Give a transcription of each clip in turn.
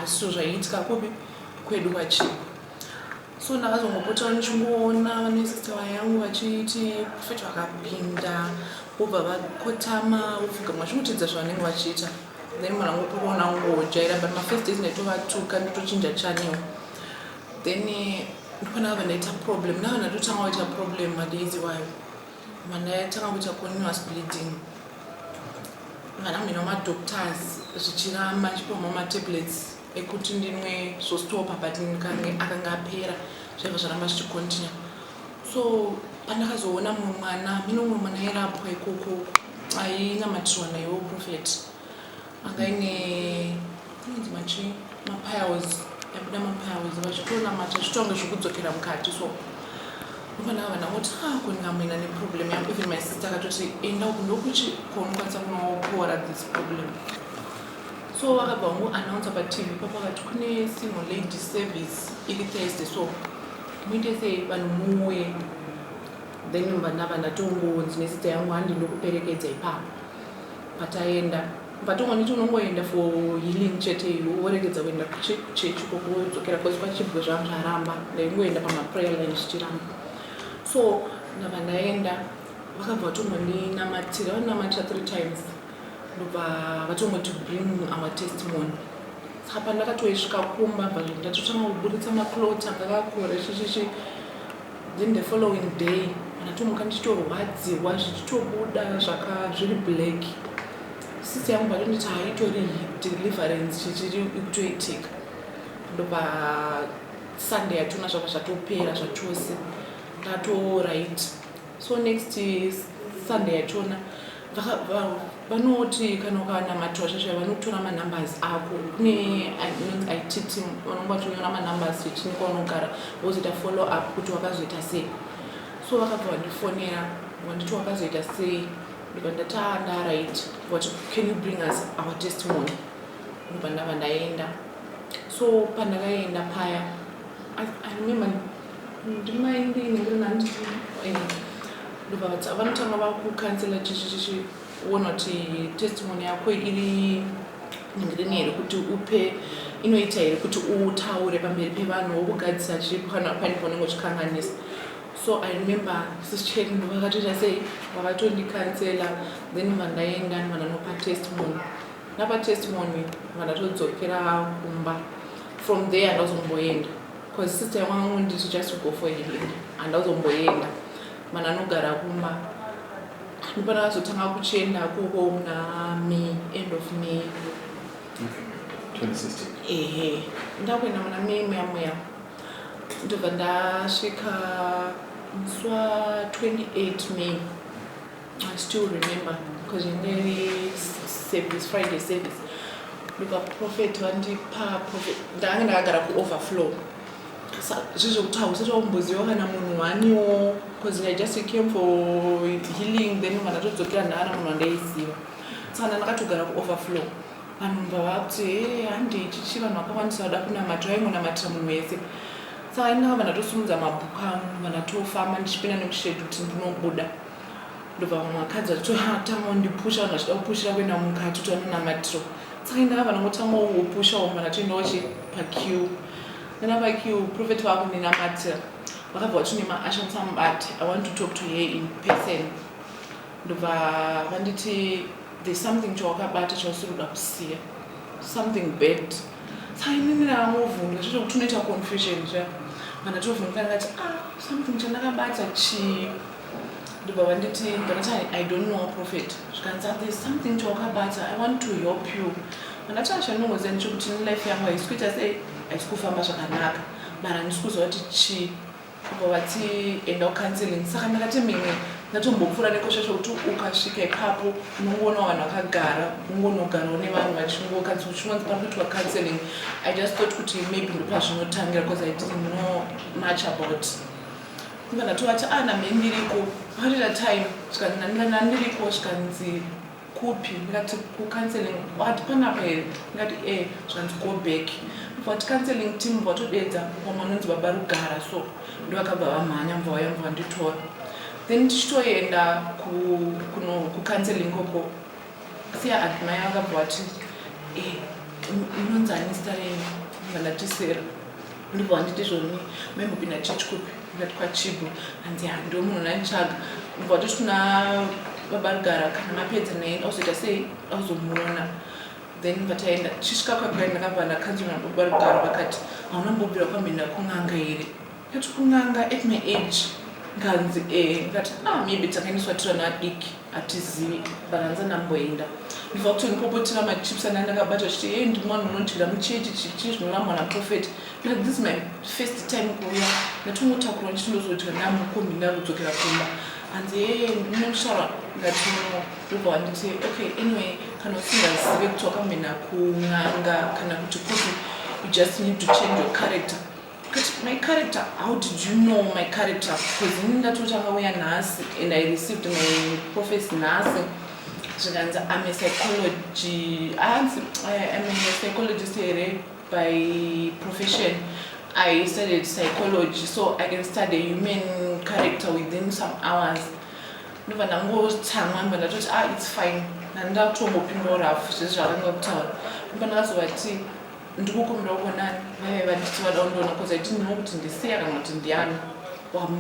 asi zvaiitika kupi kwedu kwachii so ndakazongopota ndichingoona vanesister vayangu vachiti profet vakapinda vobva vakotama vopfugama zvinotiidza zvavanenge vachiita then mwana wangu kuona ngojaira but mafirst days ndaitovatuka nditochinja channel then eh, ndipona vava ndaita problem nava ndatotanga waita problem madays iwayo Mwana yatanga kuita continuous bleeding. Kana mina ma doctors zvichiramba ndichipoma ma tablets ekuti ndinwe zvostopa but ndikange akanga apera zvaiva zvaramba zvichicontinue. So pandakazoona mumwe mwana mino mumwe mwana airapwa ikoko ainamatirwa naiwo prophet. anga ine kunonzi machi mapiles yabuda mapiles vachitonamata zvitonge zvekudzokera mukati so ndopana vana voti a ah, kundingamuina neproblem yangu even my sister akatoti enda uku ndokuti konokwanisa kunopora this problem so vakabva vangu announce patv papo vakati kune single lady service iri thursday so muite sei vanhu muuye then vana vana tongonzi nesita yangu handi ndokuperekedza ipapo Pataenda patongoniti unongoenda for healing chete iwe woregedza kuenda kuchurch ikoko wodzokera bcause kwachibwe zvangu zvaramba ndaingoenda pamaprayer line zvichiramba so ndabva ndaenda vakabva vatongondinamatira vaninamatira three times ndobva vatongoti bring our testimony saka pandakatoisvika kumba bva ndatotanga kuburitsa maclot akakakure chichichi then the following day ndatomuka ndichitorwadziwa zvichitobuda zvaka zviri black sisi yangu patonditi haitori deliverance chichiri ikutoitika ndopa sunday yatona zvaka zvatopera zvachose ndatorit so next sunday yachona vanoti kana ukanamatirwa zvazvo vanotora manumbers ako kune inonzi eh, it team vanonge vachonyora manumbers chini kwaunogara vozoita follow up kuti wakazoita sei so vakabva vandifonera vanditi wakazoita sei ndibva ndataa ndaright vati can you bring us our testimony ndibva ndava ndaenda so pandakaenda paya i remember vanotanga vakukansela chichichiona kuti testimony yako iri ngirini here kuti upe inoita here kuti utaure pamberi pevanhu wokugadzisa chiripo kana pane paunenge uchikanganisa so i remember sischeno vakatoita sei vakatondicancela then vandaenda vananopa testimony napa testimony vandatodzokera kumba from there ndazomboenda Cause sister wangu ndiri just to go for healing. Handa kuzomboenda. Mana anogara kuma. Ndipana vazotanga kuchenda kuko muna May, end of May. Okay. 2016. Ehe. Ndakuenda muna May muya muya. Ndobva ndasvika musi wa 28 May. I still remember because in the service, Friday service, ndika prophet vandipa prophet ndange ndakagara kuoverflow zvezvekuti hausati wakumboziva kana munhu waniwo bcause i just came for healing then kana todzokera ndaana munhu wandaiziva sakana ndakatogara kuoverflow vanhu mva vakuti he handi ichichi vanhu vakakwanisa vada kunamatira vaingonamatira munhu wese saka inaa vana tosumudza mabhuku angu vana tofamba ndichipinda nekushedu kuti ndinobuda ndobva vamwe vakadzi vachito ha tanga undipusha vanhu vachida kupushira kuenda mukati kuti vanonamatiro saka indaa vanhu vangotanga wopusha womana vachitoendawo chi pakiu nana pakiu profet vakundinamatira vakabva vachine maasha musamubate i want to talk to her in person ndobva vanditi there's something chawakabata chausiri kuda kusiya something bad saka inini raangovhunga zvezvo kuti unoita confusion zva kana tovhunga ngati ah something chandakabata chii ndobva vanditi ndakati i don't know prophet zvikanzi there's something chawakabata i want to help you ndakati achanongoziva ndichokuti nelife yangu haisi kuita sei haisi kufamba zvakanaka mara handisi kuziva kuti chii kubva vati enda ucounseling saka ndakati mimwe ndatombopfuura nekosha chokuti ukasvika ipapo unongoona vanhu vakagara ungonogarawo nevanhu vachingokadzi uchingonzi pari kuitwa counseling i just thought kuti maybe ndopazvinotangira because i didn't know much about Ndikabva ndatovati ah name ndiriko pakarira time zvikanzi name ndikati name ndiriko zvikanzi kupi ndikati kucounseling wati panapa here ndikati e zvikanzi go back mva wati counseling team mva watodeedza vamwe vanonzi baba rugara so ndovakabva vamhanya mva waya mva wanditora then tichitoenda kucounseling koko Siya ati mai vakabva vati eh, inonzi ani zita renyu vandati sera ndibva vanditi zvoni maimbopinda church kupi ndati kwachibo hanzi hando munhu naitsvaga ndibva vatoti kuna vabarugara kana mapedza naye auzoita sei auzomuona then vataenda chisvika kwakwaenda ndakabva ndakanzwa nababarugara vakati hauna mbobvira kwamhenda kun'anga here But kun'anga at my age nganzi eh ndikati ah maybe takaendeswa tiri vana vadiki hatizivi but hanzi andamboenda ndibva kutondipopotera machips anga ndakabata chiti hey ndimwana unondyira muchechi chichi zvinorambwa naprofet na this my first time kuuya ndatongotakurwa ndichiti ndozodya namukombi ndakudzokera kumba hanzi hey ndinoshara ndati no ndobva wanditi okay anyway kana usingazive kuti wakamboenda kun'anga kana kuti kupi you just need to change your character But my character, how did you know my character? Because ini ndatotanga uya nhasi and I received my prophecy nhasi zvikanzi I'm a psychology, I'm a psychologist here by profession. I studied psychology, so I can study human character within some hours. ndobva ndangotsamwa mba ndatoti ah it's fine ndandatongopinda urafu zvese zvakanga kutaura mba ndakazovati ndikukumbira uko nani vaive vanditi vada kundiona koza itiniwo kuti ndisiya kana kuti ndiyani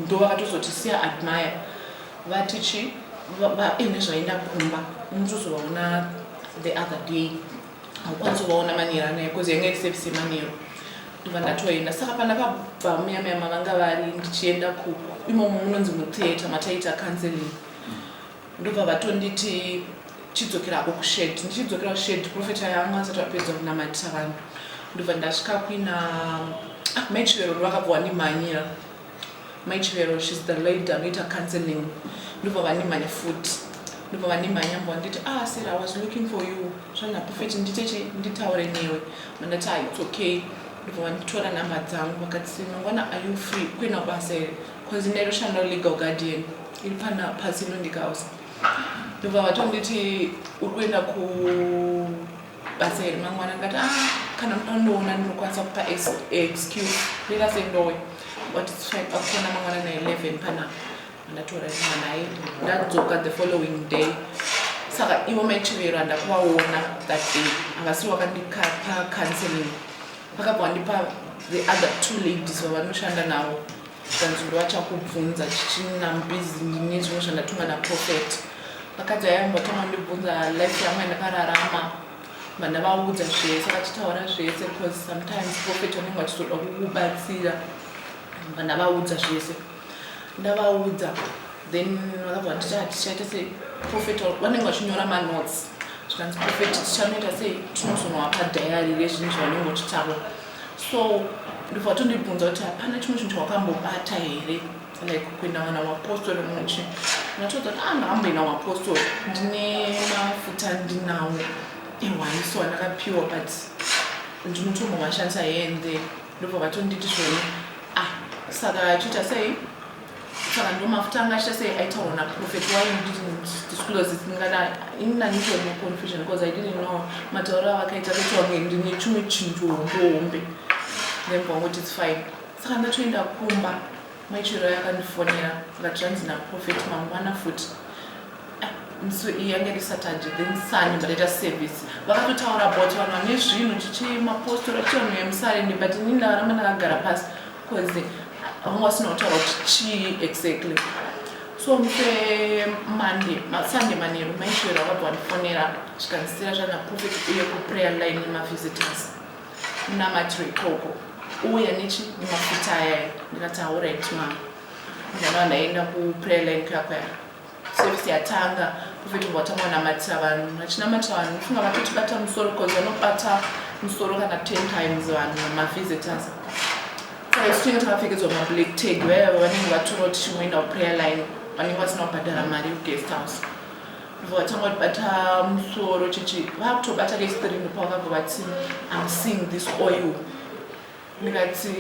ndo vakatozoti siya admire vati chi vaine zvaenda kumba unotozovaona the other day haukwanisi kuvaona manero anaye koza yanga iri sevise manero ndova ndatoenda saka pandakabva muyamaya mavanga vari ndichienda ku imomo munonzi mutheatre mataita counseling Ndobva vatonditi chidzokera hako kushed ndichidzokera kushed prophet aya anga asati apedza kunamatisa vanhu ndobva ndasvika kuina ah, mai chivero ndovakabva wandimhanyira mai chivero shes the lady anoita counseling ndobva vandimhanya futi ndobva vandimhanya mbo vanditi ah sir i was looking for you zvana prophet nditeche nditaure newe mandati ah it's okay ndobva vanditora number dzangu vakati mangwana are you free kuina basa here bcause ndairoshanda legal guardian iri pana pasi inondikausa ndobva vatonditi uri kuenda kubasa here mangwana ndikati ah, kana munondoona ndinokwanisa kupa excuse rira sendowe but its fine akufona mangwana na 11 pana andatora rima naye ndadzoka the following day saka ivo maichivero andakuvaona that day angasi wakandikapa counseling vakabva vandipa the other two ladies vavanoshanda navo zvikanzi uri vachakubvunza chichina mbizi ndine zvimwe zvandatumwa naprofet vakadzi vaya vatanga ndibvunza life yangu yandakararama vana vaudza zvese vachitaura zvese because sometimes profet vanenge vachizoda kukubatsira vana vaudza zvese ndavaudza then vakabva nditi hatichaite ah, sei profet vanenge vachinyora manotes zvikanzi profet tichanoita sei tinozonoapa dhayari rezvinhu zvavanenge vachitaura so ndobva vatondibvunza kuti hapana chimwe chinhu chawakambobata here like kuenda vana wapostori muchi natoudza kuti anga ah, amboenda wapostori ndine mafuta ndinawo ehwaniso andakapiwa but ndinotombo mashandisa hende ndobva vatonditi zvone ah saka achiita sei saka ndo mafuta anga achita sei aitaurwa na prophet why you didn't disclose it ndingada ini nanditori ne confusion because i didn't know matauro avakaita kuti wange ndine chimwe chinhu hombe then vangoti its fine saka ndatoenda kumba maichero yakandifonera akati zvanzi naprofet mangwana futi ah, so yange ri saturday then sunday ndataita service vakatotaura about vanhu vane zvinhu chichi mapostora chivanhu vemusarende but ini ndavaramba ndakagara pasi Cause vanga vasina kutaura kuti chii exactly so muse monday sunday manheru maishoera vabva vandifonera zvikandisira zvana prophet uye kuprayer line nemavisitors munamatiro ikoko uya nechi nemafuta ayaya ndikati haurit ma ndana vandaenda kuprayer line kuyakwaya Service yatanga prophet ngo watanga kunamatira vanhu vachinamatira vanhu unofunga vatotibata musoro bcause vanobata musoro kana ten times vanhu mavisitors saka isu tinenge takapfekedzwa mablack tag vaiva vanenge vatora kuti chingoenda kuprayer line vanenge vasina kubhadhara mari yeguest house ivo vatanga kutibata musoro chechi vakutobata kestrini pavakabva vati am seeing this oil ndikati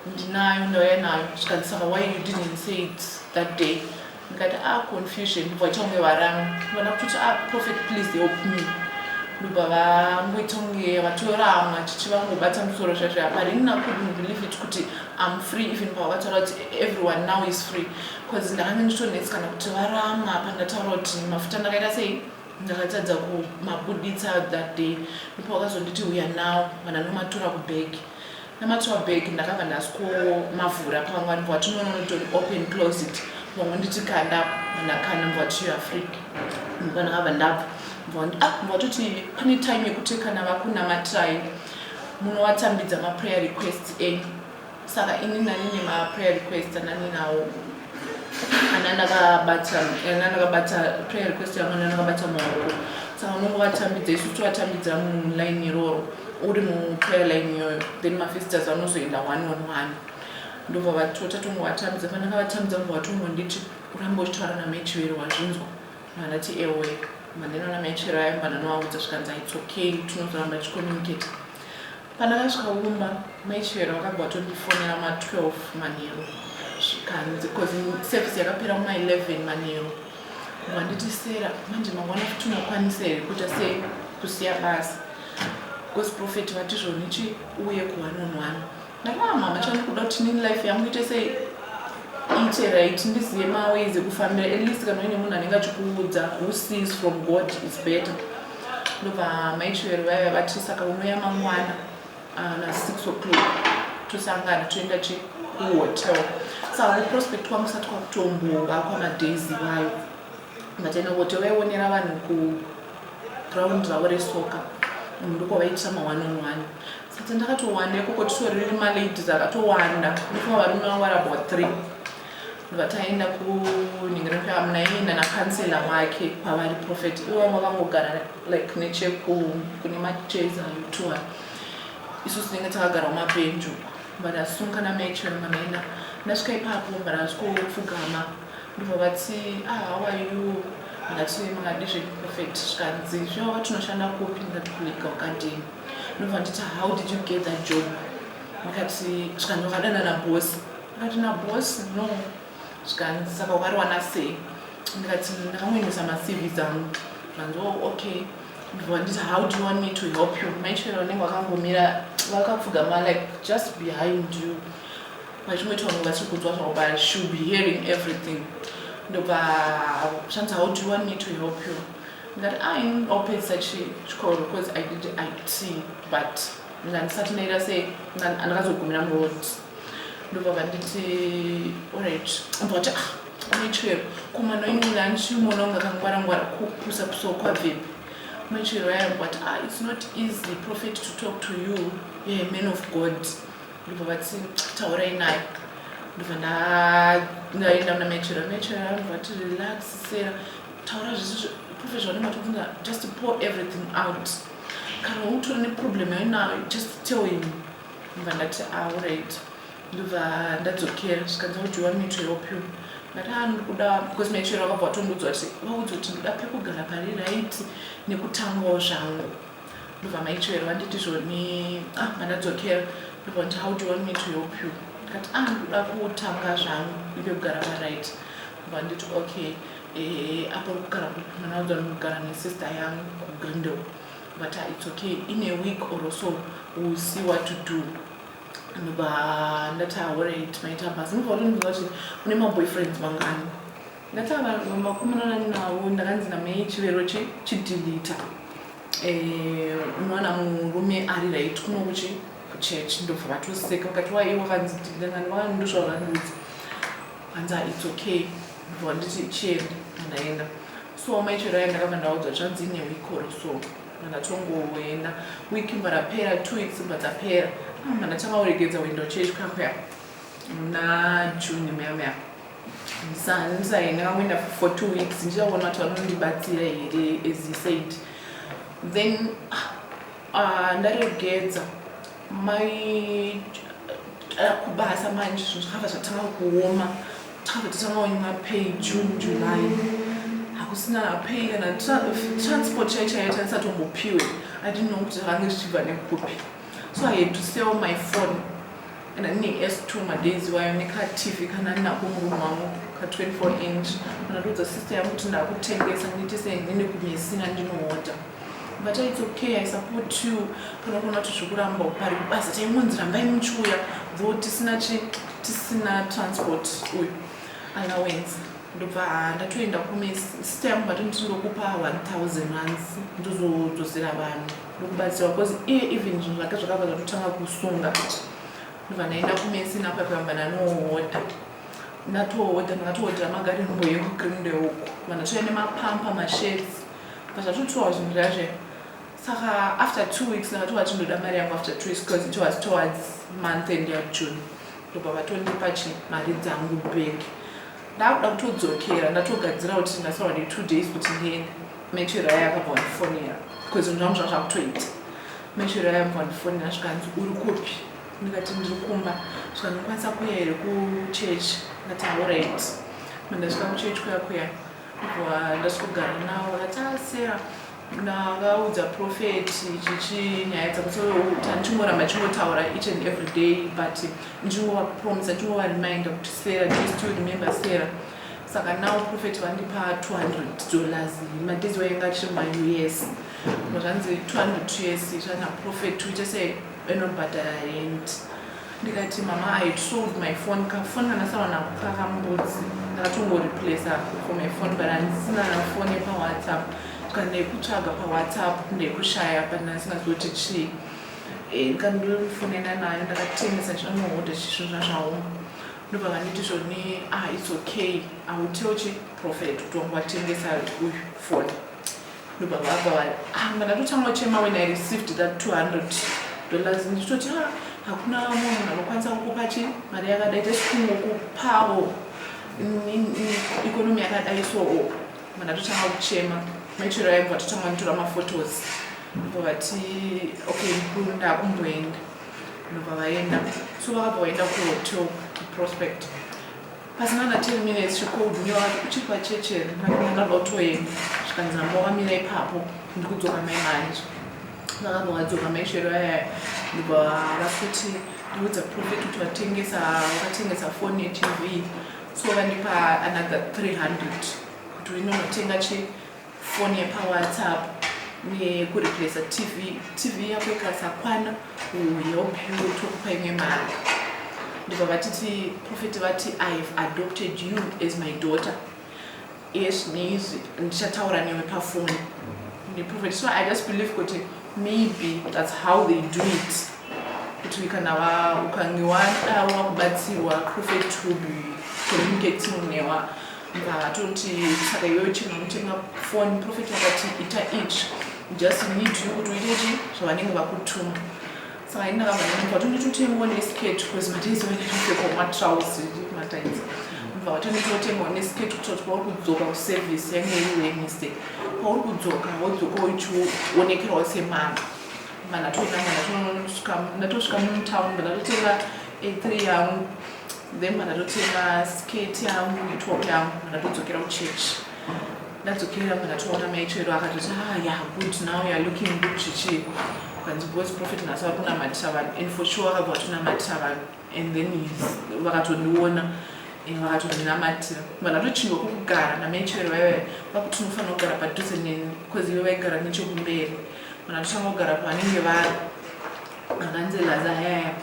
ndinayo ndauya nayo zvikanzi saka why you didn't say it that day ndikati a ah, confusion ndobva vaita kunge varanga vana kutoti a ah, prophet please help me ndobva vangoita kunge vatorama chichi vangobata musoro zvazvo haparini nakudn't believe it kuti am free even pavakataura kuti everyone now is free bcause ndakange nditonetsi kana kuti varama pandataura kuti mafuta ndakaita sei Ndakatadza kumabuditsa that day ndipo wakazonditi huya nawo kana nomatura kubag namatura bag ndakabva ndaskomavhura pamwe anibva wati nononotori open closet pamwe nditi kanda ndakanda mva wati youare free mva ndakabva ndabva mva ah, watoti pane time yekuti kana vakunamatirai munovatambidza maprayer requests enyu saka ini ndani nemaprayer request ananinawo ana ndakabata ana ndakabata prayer request yangu ana ndakabata maoko saka unongo vatambidza isu tivatambidza muline iroro uri muprayer line iyoyo then mafisters anozoenda one on one ndobva vatota tongo vatambidza pandanga vatambidza ngo vatongo nditi uramba uchitaura namaichivero wazvinzwa manati ewe mandinona maichivero ayo mbananovaudza zvikanzi its okay tinozoramba tichicommunicate Pandakasvika kumba mai Chivero vakabva vatondifonera ma 12 manheru zvikanzi because service yakapera kuma 11 manheru vanditi sera manje mangwana futi unokwanisa here kuita sei kusiya basa because prophet vati zvonichi uye kuwanonwana ndakaa mama chandi kuda kuti nini life yangu ite sei ite right ndizive maways ekufambira at least kana uine munhu anenge achikuudza who sees from god is better ndobva mai chivero vaiva vati saka unouya mangwana ah, na six o'clock tosangana toenda che kuhotel saka kuprospect kwangu sati kwakutombova kwamadays vayo mataenda kuhotel vaionera vanhu kuground ravo resoka ndiko vaitisa ma-one on one sati ndakatowanda ikoko titoriri maladies akatowanda ndifunga varume vavo vari about three ndobva taenda kunhingiro yamunaiye nana kansela wake kwavari prophet ivanga vangogara like necheku kune machairs ayo tuwa isu tinenge takagara kumapenju vadasunga namecho manaina ndasvika ipapo mbanazvikopfugama ndobva vati ah, how are you ndati makadi zveprofet zvikanzi zvivava tinoshanda kupi ndati kulika ukadini ndobva nditi how did you get that job ndikati zvikanzi vakadanana bosi Ndikati naboss no zvikanzi saka wakariwana sei ndikati ndakamuendesa macv dzangu zvanzi oh, okay ndibva nditi how do you want me to help you maichero unenge wakangomira vakapfugama like just behind you vachimweti vangu vachiri kudzwa zvavo but she will be hearing everything ndobva zvanzi how do you want me to help you ndikati ah, i opedzisa chikoro because i did it but ndikandisati ndaita sei ndakazogumira muroad ndobva vanditi orit ambva kuti ah maichwero komana imwina andichimuona kunge akangwara ngwara kupusa pusawo kwabvepi maichwero ayambva kuti ah its not easy prophet to talk to you yeah, man of god ndobva vati taurai naye ndobva ndaenda muna maichwero maichwero ayambva kuti relax sera taura zvese prophet zvaunematovunza just pour everything out kana utori neproblem yainayo just tell him ndobva ndati aurit ndobva ndadzokera zvikanzi audiwa mito yopio ndati a ndikuda because maichero akabva atondudzwa ti vaudzi kuti ndoda pekugara pari right nekutangawo zvangu ndobva maichero vanditi zvoni a ah, mandadzokera ndobva nditi audiwa mito yopio ndikati a ah, ndikuda kutanga zvangu ive kugara parit ndobva nditi okay eh, apo kugara mwana udzanogara nesister yangu kugrindel but uh, it's okay in a week or so we'll see what to do ndobva ndati aorit maita basa ndobva utondiudza kuti une maboyfriends mangani ndati makumananani navo ndakanzi namai chivero chidilita eh, unowana murume ari right kuno kuchi kuchurch ndobva vatoseka vakati waiye wakanzi dilita ngani vakandosvavakandiudza kanzi ah, it's okay ndobva nditi chienda ndaenda so amai chero aya ndakabva ndaudzwa zvanzi ine wikoro so mandatongoenda wiki mba rapera two weeks mba dzapera amba ah, ndatanga kuregedza window church kakuya muna june meamea ndisaendai ndakangoenda for two weeks ndichaona kuti vanondibatsira here as he said then ah, ah, ndaregedza mai eh, kubasa manje zvinhu zvakabva zvatanga kuoma takabva tatanga kunyima pay june july hakusina pay kana transport chai chaiyo tanisatombopiwe adinno kuti zvakange zvichibva nekupi so i had to sell my phone and ane s two madays wayo nekatv kana ndinako murume wangu ka 24 inch kana ndodza sister yangu kuti ndakutengesa ndiite seinini kumisina ndinoota but it's okay i support you panokona kuti zvekuramba pari kubasa taimunzi rambai muchiuya though tisina chi tisina transport uyu allowance ndobva ah, ndatoenda kume sita yangu vati ndindokupa 1000 runs ndozodzosera vanhu ndokubatsirwa because iye even zvinhu zvake zvakabva zvatotanga kusunga ndobva ndaenda kumesi napapamba ndanooda ndatooda ndakatooda magari mboyekugrindeuku vanhu tove nemapampa mashedzi but atotoa zvinhu zvazve saka after two weeks ndakatoa chindoda mari yangu after two weeks because it was towards month end yajune ndobva vatondipa chi mari dzangu back ndakuda kutodzokera ndatogadzira kuti ndasaura ne two days kuti ndiende machero aya akabva wandifonera because zvinhu zvangu zvanga zvakutoita machero aya akabva wandifonera zvikanzi uri kupi ndikati ndiri kumba zvikanokwanisa kuya here kuchurch ndati auright mandasvika kuchurch kuya kuya Kubva ndasvikogara navo rataaseya ndakaudza prophet chichi nyaya dzakuti tandichingoramba tichingotaura each and every day but ndichingovapromisa ndichingovareminder kuti sera just to remember sera saka now prophet vandipa 200 dollars madezi vainga tiri maus zvanzi 200 us zvana prophet uite sei enobhadhara rent ndikati mama i sold my phone kafoni kandasara nako kakambudzi ndakatongoreplacer for my phone but andisina nafoni pawhatsapp kandekutsvaga pawhatsapp ndekushaya but ndandisingazii kuti chii eh, ndikandofonena nayo ndakatengesa chinonohoda chisvo zvazvaoma ndobva vanditi zvoni ah its okay i will tell chi prophet kuti wangu watengesa uyu foni ndobaba apa vari ah, mwana totanga chema when i received that 200 dollars ndichitoti ha ah, hakuna vamwe munhu anokwanisa kukupa chi mari yakadai tesikungokupawo ikonomi yakadai so oh, mwana totanga kuchema maichero yaimva totanga nditora maphotos ndobva vati okay ndikunda kumboenda ndobva vaenda so vakabva vaenda kuhotel prospect Pasina na 10 minutes she called me wakati uchiri pachechi here ndakanga ndotoenda zvikanzi namba wamira ipapo ndikudzoka mai manje vakabva vadzoka mai shero yaya ndibva vakuti ndiudza profit kuti vatengesa vakatengesa foni yetv so vandipa another 300 kuti inonotenga chii foni yepawhatsapp uye kureplacer tv tv yako ikasakwana uyo bhyu tokupa imwe mari ndibva vatiti profeti vati i have adopted you as my daughter yes neizvi ndichataura newe pafoni neprofeti so i just believe kuti maybe that's how they do it kuti kana ukange wada wakubatsirwa profeti will be communicating newa Atonti saka iwewe chino unotenga foni profeti akati ita izvi just need you kuti uite chi zvavanenge vakutuma saka ini ndakabva ndati kwatoni totengawo neskirt because mataizi vane kupfekwa matrouse mataizi ndibva kwatoni totengawo neskirt kuitira kuti pauri kudzoka kuservice yange iri wednesday pauri kudzoka wodzoka uchionekerawo semana mana toinanga ndatosvika mutown ndatotenga a3 yangu then mara ndotenga skate yangu netop yangu mara ndodzokera kuchurch ndadzokera mara toona maichero akatoti ah ya good now youare looking good zvichii kanzi bos profit nhasi vari kunamatisa vanhu and for sure vakabva vatonamatisa vanhu and then vakatondiona and vakatondinamatira mara ndochingwa kukugara namaichero vaiva vakuti unofanira kugara padhuze neni bcause ive vaigara nechekumberi mara ndotanga kugara pavanenge vari Akanzi Laza yaya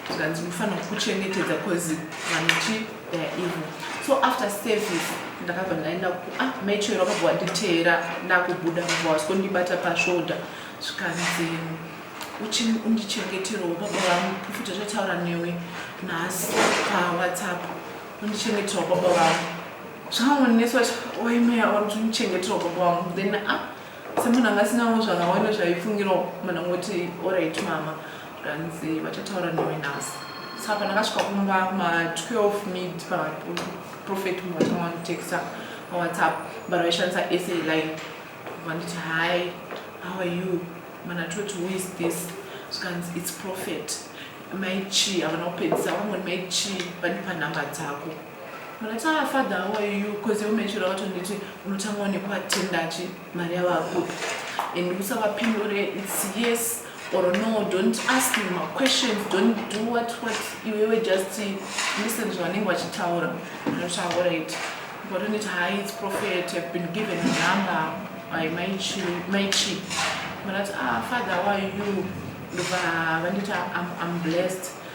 zvikanzi mufanira kuchengetedza cause vanochi they are evil. So after service ndakabva ndaenda ku ah maichero akabva wanditeera ndakubuda mva was kundibata pashoulder zvikanzi undichengeterawo baba vangu profita zvataura newe nhasi pawhatsapp undichengeterawo baba vangu zvaonesa waimeya uri kuti undichengeterawo baba vangu then ah semunhu anga asinawo zvakawanda zvaifungirawo munhu angoti orit mama ranzi vachataura newe nhasi saka pandakasvika kumba ma12 mid paprofet munhu vatanga vanditexta pawhatsapp but vaishandisa sa line vanditi hi how are you mana toti who is this zvikanzi its profet mai chii havana kupedzisa vangoni mai chii vandipa nhamba dzako Munotanga father how are you because you mentioned wacho nditi unotanga one kwa tendachi mari yavo akupi and usavapindure it's yes or no don't ask me my questions don't do what what iwewe just listen zvavanenge vachitaura zvinotaura it but unit high it's prophet have been given a number by my chi my chi but ah father why you ndobva vandita i'm blessed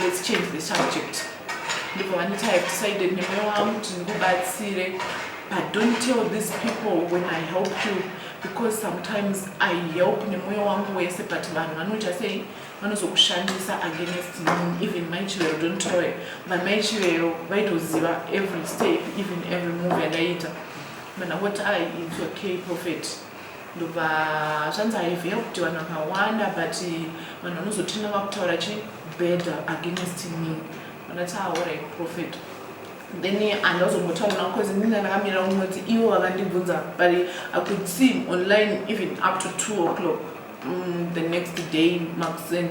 Let's change the subject. Ndipo vanoti I have decided nemoyo wangu kuti ndikubatsire but don't tell these people when I help you because sometimes I help nemoyo wangu wese but vanhu vanoita sei vanozokushandisa against me even mai chivero don't tell her vamai chivero vaitoziva every step even every move yandaiita mana what I it's okay prophet ndobva zvanzi haivheya kuti vanhu vakawanda but vanhu vanozotinda vakutaura chi bad against me vanati aore ah, prophet then handazombotaura navo bcause ndinga ndakamirira kunoti ivo vakandibvunza but i could see him online even up to two o'clock mm, the next day makuseni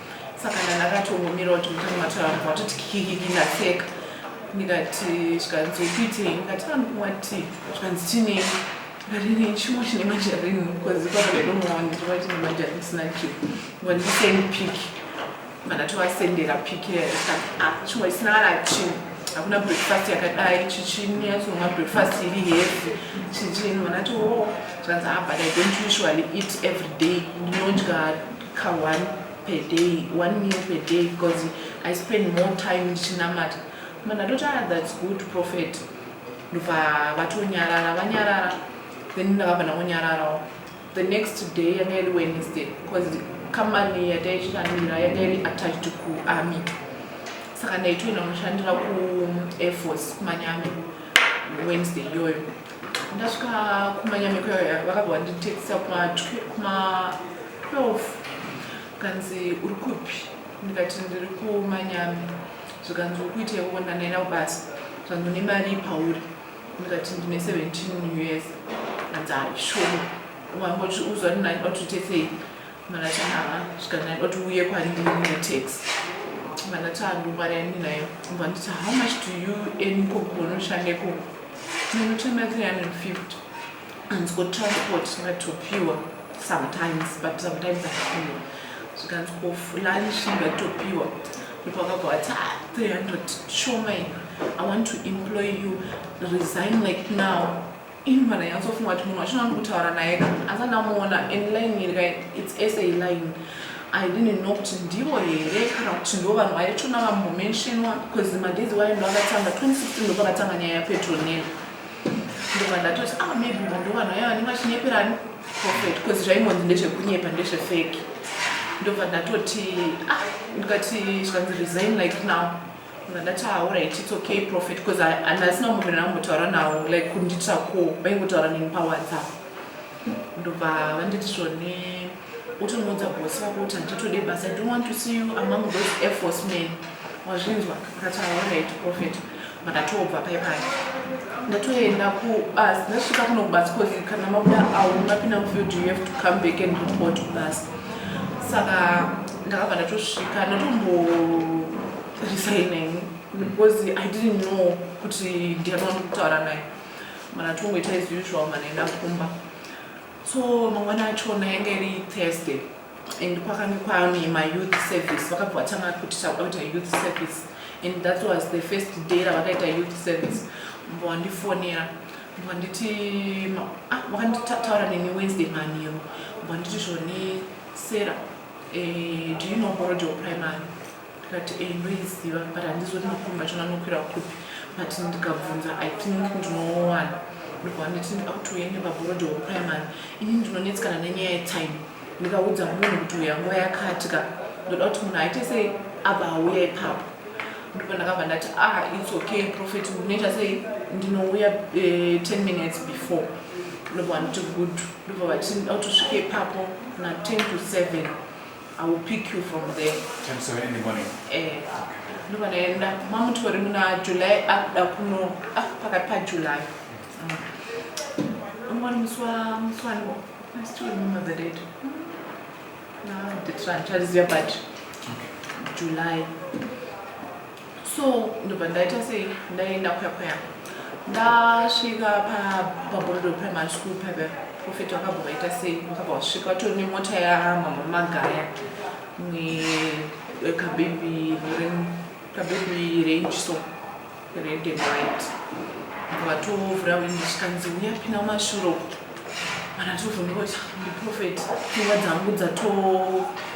saka ndandakatongomira kuti mutanga mataura vatoti kikikiki ndaseka ndikati zvikanzi ukuitei ndikati andikumwa tii zvikanzi chinei varini chimwe chine majarini bcause kwaaidomaona ndiva chine majarini chisina chii wandiseni piki vandatovasendera piki ah, chimwe chisina kana chii hakuna breakfast yakadai chichini yatsonwa breakfast iri hefi chichini vanati wo oh, zvanzi abut ah, i don't usually eat every day ndinodya ka one per day one meal per day because i spend more time ndichinamata ma ndatoti ah that's good prophet ndobva vatonyarara vanyarara then ndakabva ndangonyararawo the next day yanga iri wednesday because company yataichitanira yanga iri attached kuarmy saka ndaitoenda kunoshandira kuair force kumanyame wednesday iyoyo ndasvika kumanyame kuyoya vakabva vanditexisa kuma 12 kanzi uri kupi ndikati ndiri kumanyami zvikanzi uri kuita ikoko ndandaenda kubasa zvanzi une mari ipauri ndikati ndine 17 years anzi haishoma wangoti uzwa ndinaida kuti uite sei manati haa zvikandaida kuti uye kwandiri netax manati andimari ani nayo mva nditi how much do you earn ikoko unoshanda ikoko ndinotemera 350 anzwa transport ngatopiwa sometimes but sometimes apiwa zvikanzwa lunch ngatopiwa people vakabva vati 300 shoma ina i want to employ you resign like now ini vana yansofunga kuti munhu wacho nani kutaura naye ka asi andamuona and line iri ka its sa line i didn't know kuti ndivo here kana kuti ndo vanhu vaitona vambomentionwa bcause madays wayo ndo akatanga 2016 ndo pakatanga nyaya yapetonela ndobva ndatoti ah maybe vanhu vanhu vaya vanenge vachinyeperani prophet bcause zvaimonzi ndezvekunyepa ndezvefeki ndobva ndatoti ah ndikati zvikanzi resign like now ndati haurit ah, its okay prophet bcause handasina munhu ndinambotaura nawo like kundiitira ko vaingotaura neni pawhatsapp ndobva vanditi zvone utonoudza bosi vako kuti handitode basa i don't want to see you among those airforce men wazvinzwa akati haurit ah, prophet Ndakatobva paye paye ndatoenda kubus ndasvika kuno kubus cause kana mabuda awo mapinda mufield you have to come back and report kubus saka ndakabva ndatosvika ndatomboresigning because i didn't know kuti ndianoa ndikutaura naye mana tongoita as usual mana enda kumba so mangwana achona yanga iri thursday and kwakange kwaane mayouth service vakabva vatanga kuti taakuita youth service and that was the first day ravakaita youth service mbo wandifonera mbo wanditi ah, vakanditaura neni wednesday manheru mbo wanditi zvone sera eh, do you know borodeo primary ndikati e ndoiziva but handizi kuti makombi acho anokwira kupi but ndikabvunza i think ndinowana ndobva nditi ndida kuti uya nebabhorodi wekuprimary ini ndinonetsikana nenyaya yetime ndikaudza munhu kuti uya nguva yakatika ndoda kuti munhu aite sei abva auya ipapo ndipo ndakabva ndati ah its okay profet unoita sei ndinouya eh, ten minutes before ndobva nditi good ndobva vati ndida kuti usvike ipapo na ten to seven I will pick you from there. 10 to 7 in the morning. Eh. Ndova ndaenda mamutori muna July akuda kuno ah pakati pa July. Umwana musi wa musi wa no. I still remember the date. Na date rangu chariziva but July. so ndobva ndaita sei ndaenda kwekweya ndasvika paborodo primary school paive profeti vakabva vaita sei vakabva vasvika vatori nemota yamamwe magaya kabebi kabebi range so red and white vatovhura windi zvikanzi uya pina mashuro kuti Kana tiri kuzondipota ndiprofeti pfungwa dzangu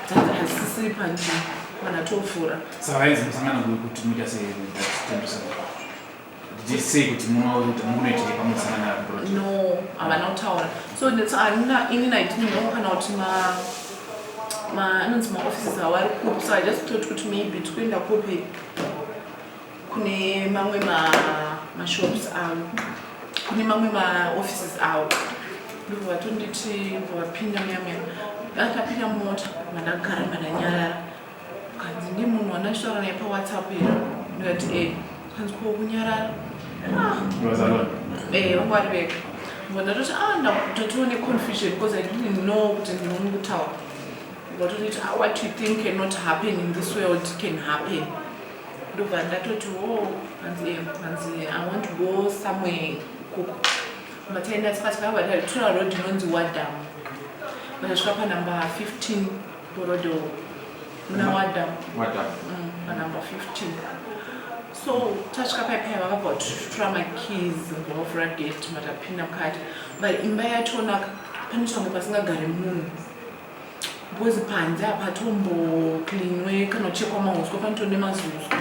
dzatohasisiri panzvimbo kana tofura. Saka vaenzi musangano kuti muita sei sei kuti munoitei pamusangana naprofeti? No, havana kutaura. So handina ini naiti ndinoona kana kuti ma ma anonzi maoffices awari kupi so i just thought kuti maybe tikuenda kupi kune mamwe mashops avo kune mamwe maoffices avo ndobva vatonditi vapinda muyamuyam vakapinda mumota mandagara mandanyarara kanzi ndi munhu wandachitaura naye pawhatsapp here ndikati e kanzi ko kunyarara ah. eh, vanga vari vega ngo ndatoti a ah, ndatotiwo neconfusion because i didn't know kuti ndinomu kutaura ndatotiti ah, what you think cannot happen in this world can happen ndobva ndatoti wo oh, hanzi hanzi i want to go somewhere kuku mataenda tikasvika vadari tura road inonzi wadam vakasvika panumber 15 borodo muna wadam wadam mm, panumber 15 so tasvika pai paya vakabva kutitura makeys ngavavhura gate matapinda mukati but imba yacho naka pane change pasingagari munhu because panze apatombo cleanwe kana kuchekwa mahuswa panotone mazuzwa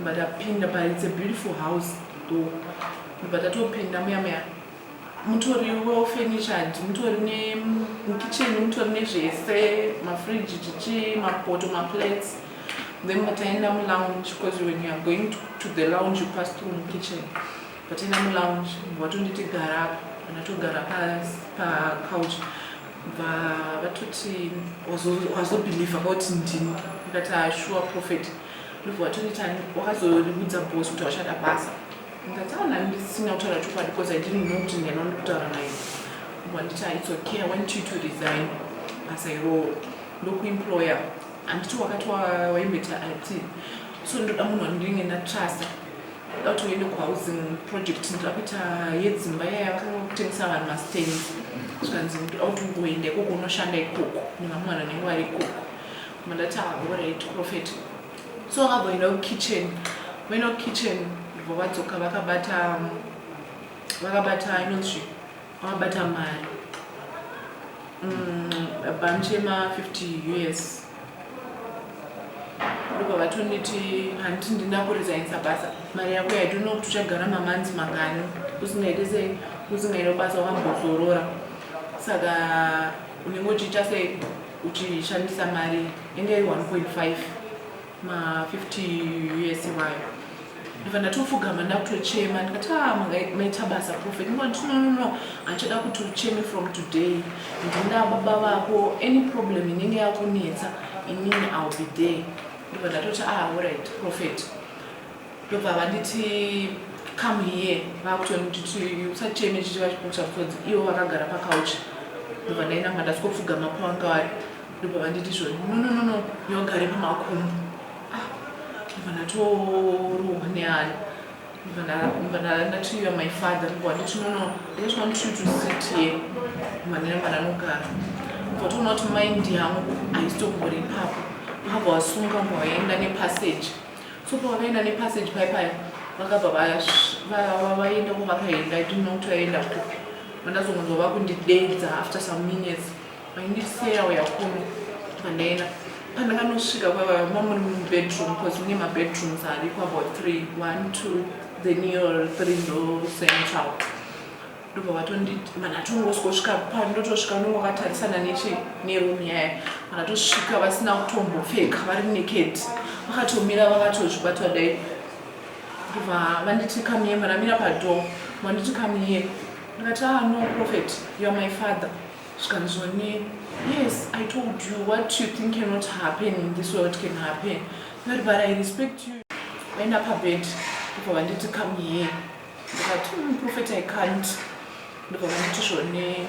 but apinda pa it's a beautiful house though but atopinda muya muya mutori well furnished mutori ne kitchen mutori nezvese mafridge chichi mapoto maplates then mataenda mulounge because when you are going to, to the lounge you pass through mukitchen pataenda mulounge watonditi gara apa anatogara pacouch pa vatoti wazobhilivha kwakuti ndini ndikati ashuwa ah, prophet ndobva watonitani wakazoriudza bos kuti wachada basa ndataona ndisina kutaura chokwadi bcause i didn't know kuti ndiyani wandikutaura naye wanditi ah, its okay i want you to resign basa iroo ndokuemployer handiti wakati waimboita ati so ndoda munhu wandinenge ndatrasta Ndoda kuti uende kuhousing project ndoda kuita yedzimba iya yakanga kutengesa vanhu mastands zvikanzi ndoda kuti ungoenda ikoko unoshanda ikoko nevamwe vanhu vanenge vari ikoko mandati aorit ah, prophet so vakabhoenda kukitchen vaenda kukitchen ndobva vadzoka vakabata vakabata inonzvi Wabata mari. Mm, baba mchema 50 years. Ndipo vatoniti hanti ndina kurizainisa basa. Mari yako I don't know kuti uchagara mamanzi mangani usingaite sei usingaite basa wakambozorora. Saka unenge uchiita sei uchishandisa mari inge 1.5 ma 50 years iwayo ndibva ndatofugama ndakutochema ndikati a ah, maita basa prophet ndikati no no no handichada kuti ucheme from today ndinda baba vako any problem inenge yakunetsa inini ill be there ndibva ndatoti a ah, orit prophet ndobva vanditi come here vakutonditi usacheme chichiva chikuta because ivo vakagara pakauchi ndobva ndainanga ndasiko pfugama pawanga wari ndobva vanditi zvo nononono yogare pamakumbo ah, ndobva ndatorohwa neani ndobva ndatiiva my father ndobva vanditi nono they just want you to sit here manera mananogara ndobva toona kuti mind yangu haisitombori ipapo vabva vasunga mbwa vaenda nepassage so pavakaenda nepassage pai paya vakabva vaenda ko vakaenda i didn't know kuti vaenda kupi vandazongonzwa vakundidedza after some minutes vaindiseya uya kuno pandaenda pandakanosvika kwavama muri mubedroom bcause mune mabedrooms ariko about three one two then your three ndo central ndobva vatonditi mana tongosvika pani ndotosvika nongo vakatarisana nechi neroom yaya mana tosvika vasina kutombopfeka vari naked vakatomira vakatozvibatwa dai ndobva vanditi kamiye manamira padoo manditi kamiye ndikati ah no prophet youare my father zvikanzwani yes i told you what you think cannot happen in this world can happen but but i respect you vaenda pabed ndibva vanditi come here ndikati mm, prophet i can't ndibva vanditi zvone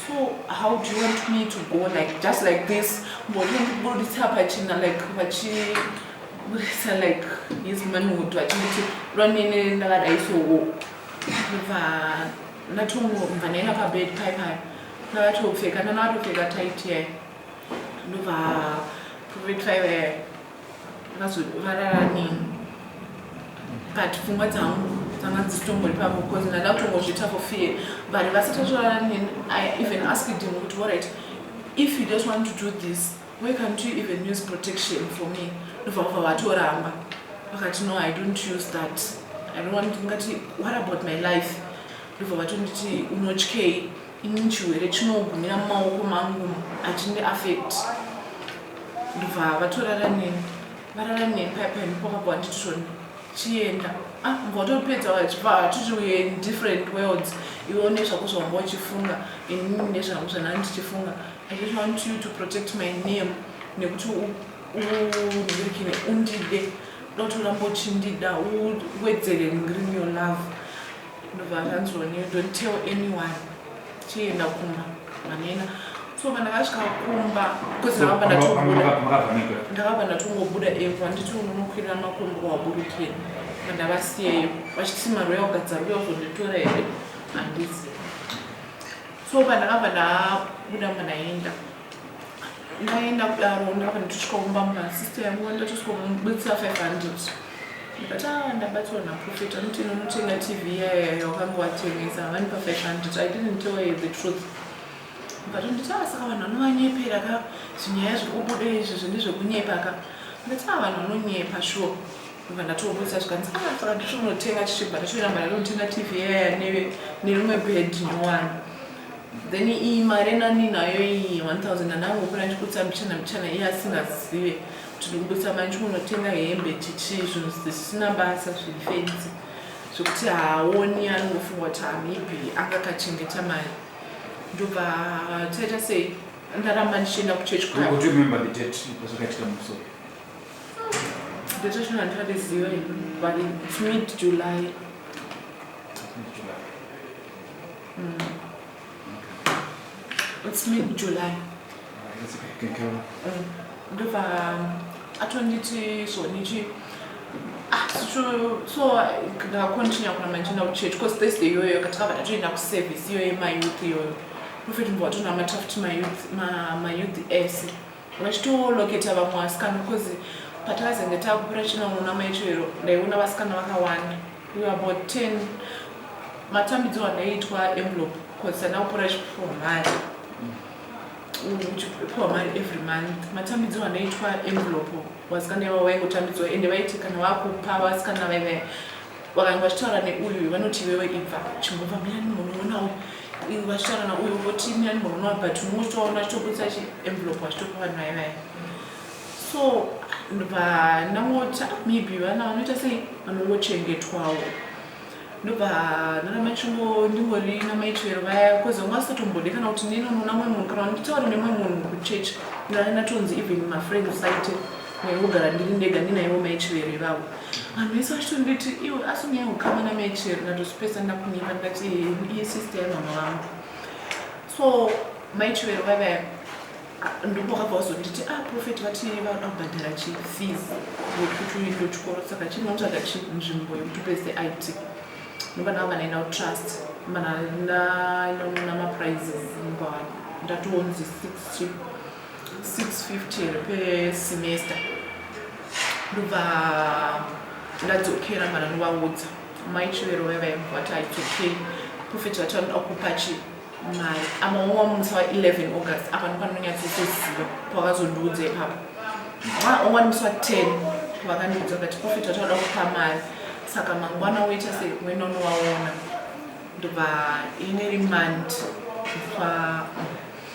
so how do you want me to go like just like this mboti ndibuditsa pachina like vachi buditsa like his manhood vachinditi lwanene ndakadai sowo ndibva Ndatongobva ndaenda pabed pai pai ndavatopfeka ndandavatopfeka tight ye ndobva prophet five vazovarara nini but pfungwa dzangu dzanga dzisitombori pavo bcause ndanda kutongozvita for fear but vasati vatorara nini i even asked him kuti orit if you just want to do this Why can't you even use protection for me? Ndobva vabva vatoramba vakati no I don't use that I don't want ngati what about my life ndobva vatonditi unotyei ini chirwere chinogumira mumaoko mangu achindi affect ndobva vatorara neni varara neni paya paya ndipo vakabva vanditi zvoni chienda ah mbva vatopedza vachibva vatiti we in different worlds iwe une zvako zvavanga uchifunga ini nezvangu zvanaa ndichifunga I just want you to protect my name nekuti undirikine undide dotoramba uchindida uwedzere ngrini your love ndobva akanzoni you don't tell anyone chienda kumba manena so kana vasvika kumba bcauseakabva ndatongobuda epo handiti unonokwirira makumbo waburukira andavasiyeyo vachiti mari yaugadza ruya uzonditora here handizi so pandakabva ndabuda mba ndaenda ndaenda kudaro ndakabva nditosvika kumba mba sister yangu ndatosvika kumubudisa 500 but ah ndabatswa naprofet anoti nonotenga tv iyayo yawakange watengesa havani pa 500 i didn't tell her the truth but nditi ah saka vanhu vanovanyepera ka zvinyaya zviri kubuda izvi zvine zvekunyepa ka ndati ah vanhu vanonyepa sure ndobva ndatoburitsa zvikanzi ah saka nditonotenga chichibva ndatoramba ndatonotenga tv yaya neve nerimwe bed nowani then iyi mari nani nayo iyi 1000 ndanangokona ndichikutsa mbichana mbichana iye asingazive kuti ndikubutsa mari ndichikunotenga hembe chichi zvinhu zvisina basa zviri fenzi zvekuti haaoni anongofunga kuti maybe anga akachengeta mari ndobva taita sei ndaramba ndichienda kuchechi kwayo Detention handisati ziva ini, but it's mid July. It's mid July. Ndobva atonditi zvonichi ah, so- so ndakontinya kuna manje na kuchurch because thursday iyoyo katakabva tatoenda kuservice iyoyo mayouth iyoyo profet mbova tonamata futi mayouth ma- mayouth ese vachitoloketa vamwe vasikana because patakazenge takupira chinoona maicho iro ndaiona vasikana vakawanda we about 10 matambidzo andaiitwa envelope because tanda kupora chipiwa mari uchipiwa mari every month matambidzo andaiitwa envelope vasikana iva vaingotambidzwa ende vaiti kana vakupa vasikana vaive vakanga vachitaura neuyu vanoti iwewe ibva chimbobva muyani munoonawo iwe vachitaura nauyu voti muyani munoonawo but unotoona achitobudisa chienvelope achitopa vanhu vaye vaye so vanamota maybe vana vanoita sei vanongochengetwawo ndobva nanamachingo ndingori namaitwero vaya bcause vanga vasatombode kana kuti nenonoona mwe munhu kana nditaure nemwe munhu kuchurch ndanatonzi even mafriends aite ndaingogara ndiri ndega ndinaivo mai chivero ivavo vanhu vese vachitonditi iwe asi unyaya ukama namai chivero ndatozvipesa ndakunyepa ndati iye sister yamama vangu so mai chivero vave ndipo vakabva vazonditi a ah, profeti vati vanoda kubhadhara chifees yekuti uindo chikoro saka chinotsvaga chi nzvimbo yekuti upese it nobana vanga naina utrust mana nainonona maprizes mubavana ndatoonzi six chip 650 pesemester ndobva ndadzokera mara novaudza mai chivero vaya vaivati it's okay profet vati vanoda kupa chi mari amaoma musi wa 11 august apa nopanonyatsotoziva pavazondiudza ipapo maoma musi wa 10 vakandiudza kati profet vati vanoda kupa mari saka mangwana woita sei kuenda unovaona ndobva ine remand kupa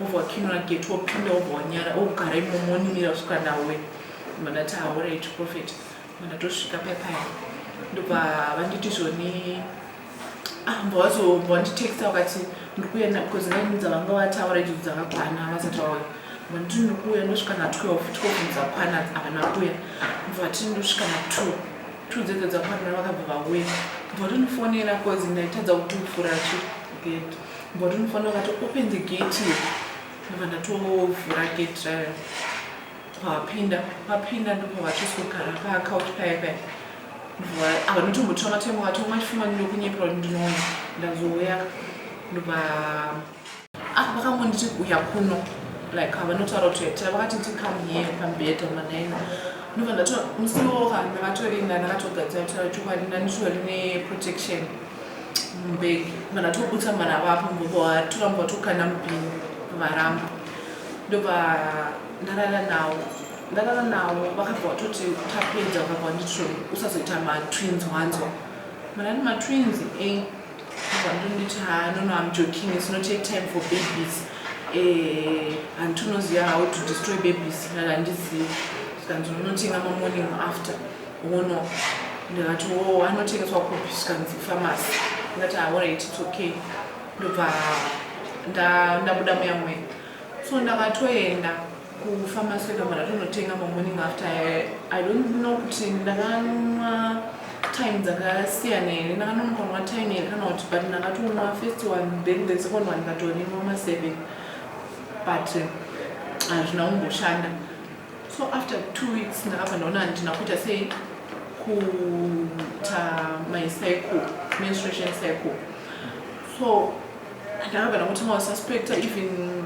wobva wakinura gate wopinda wobva wanyara wogara imomo woninira kusvika ndawe mandati haorai chiprofet mandatosvika pepaya ndobva vanditi zvoni amba ah, wazobva wanditexta wakati ndiri kuuya because naini dzavanga vataura idzo dzakakwana vasati vauya manditi ndiri kuuya ndosvika na 12 12 dzakwana havana kuya ndobva vati ndosvika na 2 2 dzedzo dzakwana vakabva vauya ndobva tondifonera because ndaitadza kuti mufura chigate But unofanira kati open the gate here. Ndobva ndatovhura gate rayo. Pavapinda, vapinda ndipo vachizogara pa couch paya paya. Ndobva avanotombotora matemo vati umwe chifuma ndinokunyepera kuti ndinoona. Ndazouya ndobva ah vakambonditi uya kuno like havanotaura kuti yatira vakati ti come here pamubhedha manaina ndobva ndato musiwo ka ndakatorinda ndakatogadzira kutaura chokwadi ndanditori neprotection mbeg mwana tobutsa mwana vapo ngoba toramba tokanda mupini varamba ndoba ndarara nawo ndarara nawo vakabva vatoti tapedza vakabva nditro usazoita matwins wanzwa mwana ati matwins e eh, vandonditi ha nono am joking is not a time for babies eh, hanti unoziva how to destroy babies ndandiziva zvikanzi unonotenga mamorning after Hono ndikati wo anotengeswa kupi zvikanzi famasi ndikati aorit ah, its okay ndobva ndabuda muya mwe so ndakatoenda kufamasi yekamara tonotenga mamorning after i don't know kuti ndakanwa time dzakasiyana here ndakanonokanwa time here kana kuti but ndakatonwa first one then the second one ndikatonimwa maseven but hazvina kumboshanda so after two weeks ndakabva ndaona handina kuita sei kuita my cycle menstruation cycle so ndakabva ndakutanga kususpecta even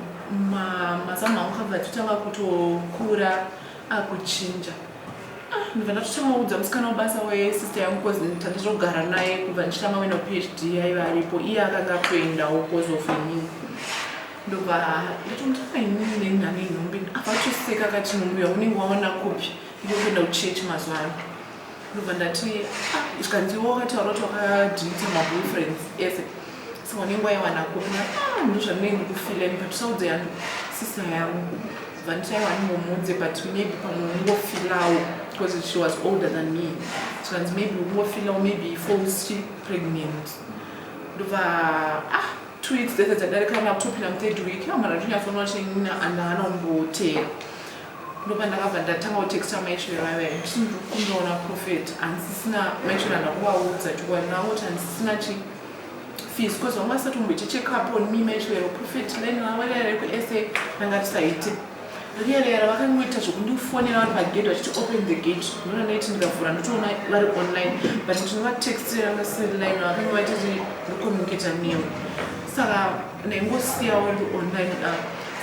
mazamu angu kabva achitanga kutokura akuchinja ah, ndibva ndatotanga kuudza musikana webasa wesister yangu bcause tandizogara naye kubva ndichitanga kuenda phd yaiva aripo iye akanga akutoendawo bcause of inini ndobva ndatomutora inini nenhani inhombe apa atoseka akati nombuya unenge waona kupi ndikuenda kuchechi mazuva ano ndobva ndati ah, zvikanziwa wakataura kuti wakadhilita maboyfriends ese so wanenge waiwana kupi na ah, ndozvandinenge ndikufileni but usaudze yangu sisa yangu bva ndichaiwa ndimomuudze but maybe pamwe ungofilawo because she was older than me zvikanzi maybe ungofilawo maybe four si pregnant ndobva ah two weeks dzese dzadarika kana kutopinda muthird week amana ndinyatsonwa china and haana kumboteera ndopa ndakabva ndatanga kutexta maishure vave ndisindokundoona profet handisisina maishure andakuvaudza chokwadi nangoti handisisina chi fees bcause vanga vasati kumboita checkup on me maishure profet line lavarearekusa ndanga tisaite Really yara vakangoita zvekundifonera vari pagate vachiti open the gate ndona ndaiti ndikavhura ndotoona vari online but ndinovatextira vasiline vakange vaitati ndocommunicata newe saka ndaingosiyawo ndi online da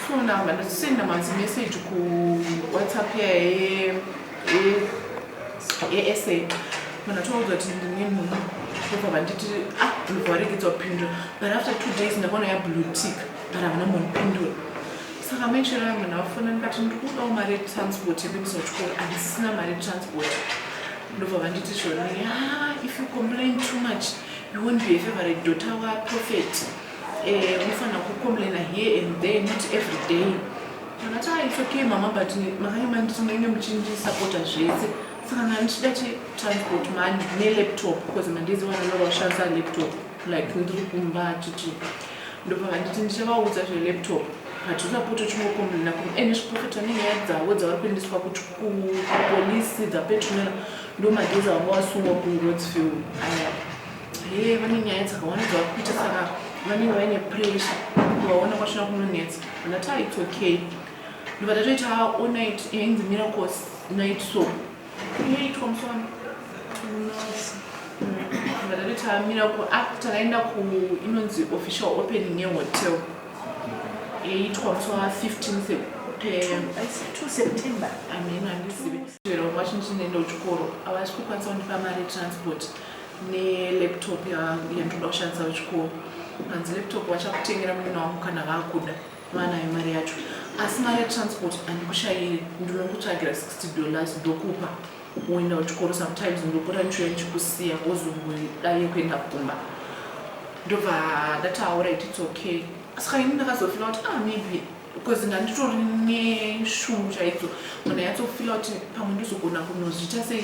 so ndamba ndachisenda manzi message kuwhatsapp yaye yesa manatoudzwa kuti ndine munhu ndobva vanditi ah ndobva varegedza kupindura but after two days ndakaona yablue tick but havana kumbondipindura saka maichero yangu ndavafona ndikati ndikudawo mari yetransport yekuendesa kuchikoro handisisina mari yetransport ndobva vanditi zvona ya if you complain too much you won't be a favorite daughter waprofet eh, unofanira eh, kucomplaina here and there not every day ndakati ah it's okay mama but makanye manditi munenge muchindisapota zvese saka nanichida chetransport money nelaptop because mandiziwana lova kushandisa laptop like ndiri kumba achiti ndobva vanditi ndichavaudza zvelaptop but usapote uchingokomblena ku ene zviprofita nenyaya dzavo dzavari kuendeswa kuti kupolisi dzapetunera ndo magezi vanga wasungwa kurodsfield aya he vane nyaya dzakawanda dzavari kuita saka vanenge vaine pressure kuvaona kwasvina kunonetsa ndati aits okay ndobva tatoita onit yainzi miracles night so Inoitwa musoro. Nose. Ndakati tamira ku ah takaenda ku inonzi official opening ye hotel. Yaitwa musi wa 15 Sep- pe- I see 2 September. ameno handizivi chero kwacho ndichinoenda kuchikoro havasi kukwanisa kundipa mari yetransport nelaptop ya- yandoda kushandisa kuchikoro hanzi laptop vachakutengera munhu wangu kana vakuda Vanayo mari yacho asi mari yetransport andikushaire ndinokutsvagira 60 dollars ndokupa woenda kuchikoro sometimes ndopota ndichiuya ndichikusiya wozongodaye kuenda kumba ndobva ndati auright its okay saka ini ndakazofila kuti ah maybe because ndanditori neshungu chaidzo kana yatsofila kuti pamwe ndozogona kunozviita sei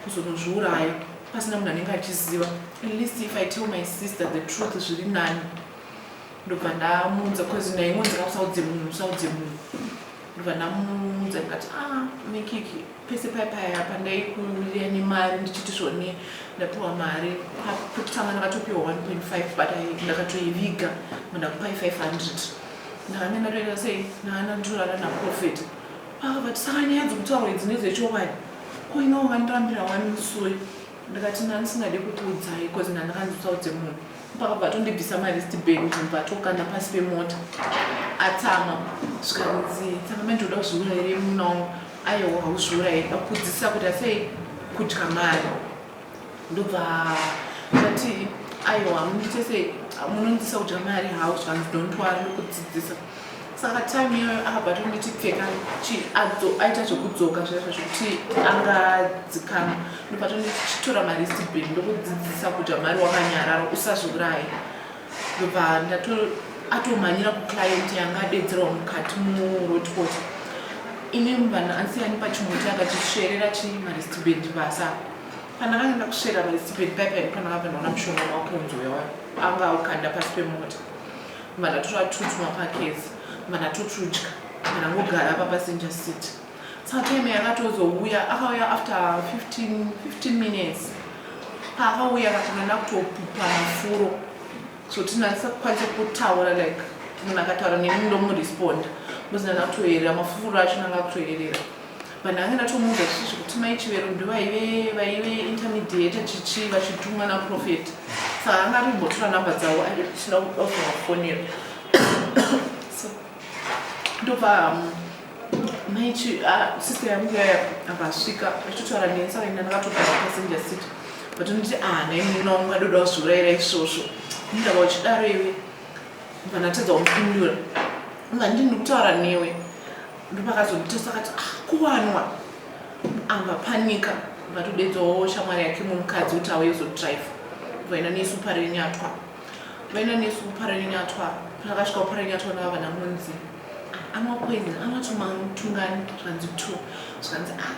kuzonozviuraya pasina munhu anenge achiziva at least if i tell my sister the truth zviri nani ndobva ndamuudza bcause naye ingonzi ka usaudze munhu usaudze munhu ndobva ndamuudza ndikati a ah, mikiki pese paye paya pandaikurira nemari ndichiti zvone ndapiwa mari pekutanga ndakatopiwa 1.5 but ndakatoiviga mandakupai 500 ndakane ndatoita sei ndaana nditorara naprofet vakavati saka nyaya dzokutaurwa idzi nedzechokwadi ko inowo vandirambira wani musoyi ndikati nani singade kukuudzai bcause nani kandisaudze munhu pakabva atondibvisa marist bag ndibva tokanda pasi pemota atama zvikanzi tsamame ndinoda kuzviura here muna wangu aiwa hauzviura here akudzisa kuti asei kudya mari ndobva ndati aiwa munditesei munondisa kudya mari hau zvikanzi don't wari nokudzidzisa saka time iyoyo akabva atonditi pfeka chi adzo aita zvekudzoka zvaizvo zvekuti anga dzikama ndobva tonditi chitora maristi beni ndokudzidzisa kuti amari wakanyarara usazviuraye ndobva ndato atomhanyira kuclient yanga adedzerwa mukati muroadport ini vanhu ansiyani pachimuti akatisverera chi maristi beni basa pandakanga ndakusvera maristi beni paipai pandakabva ndaona mushonga wakunzwewa anga aukanda pasi pemota Mana totwatutwa pakezi mana totudya kana mogara pa passenger seat satime yakatozouya akauya after 15, 15 minutes paakauya akatanga nakutopupa mafuro so tinasakwanisa kutaura like munhu akataura neni ndomuresponda muzina nakutoyerera mafuro acho nanga kutoyerera vanhu vange ndatomuudza zvisizvo kuti mai chivero ndovaive vaive intermediate chichi vachitumwa naprofet saka anga atombotora number dzavo aisina kudakuvafonera so ndobva um, mai ah, sister yangu yaya akasvika achitotaura neni saka ina ndakatogara passenger seat but nditi ah nhai muina wangu adoda kuzviurayira isvosvo ndindava uchidaro iwe vanatadza kumupindura nga ndini ndikutaura newe ndopakazomutesa akati ah, kuwanwa anga panika vakatodedzawo shamwari yake mumukadzi kuti auye zodrive vaina nesu parenyatwa vaina nesu kuparenyatwa pakasvika kuparenyatwa nava vana munzi amwa poison amwa tumatungani zvikanzi two zvikanzi ah,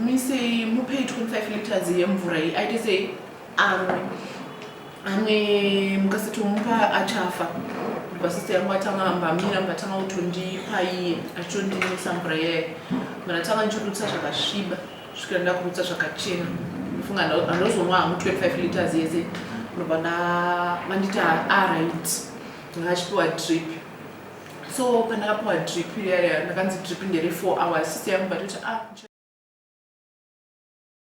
misei mupei 25 liters yemvura iyi aite sei amwe amwe mukasatomupa achafa vasisi yangu atanga ambamira mukatanga kutondipa iye achitondinisa mvura iyayo mara tanga ndichirutsa zvakasviba svikira ndakurutsa zvakachena funga andozonwa hangu 25 liters yese ndobva ndavanditi arit ndakachipiwa drip so pandakapiwa drip iyayo ndakanzi drip ndere 4 hours sisi yangu vatoti a ah,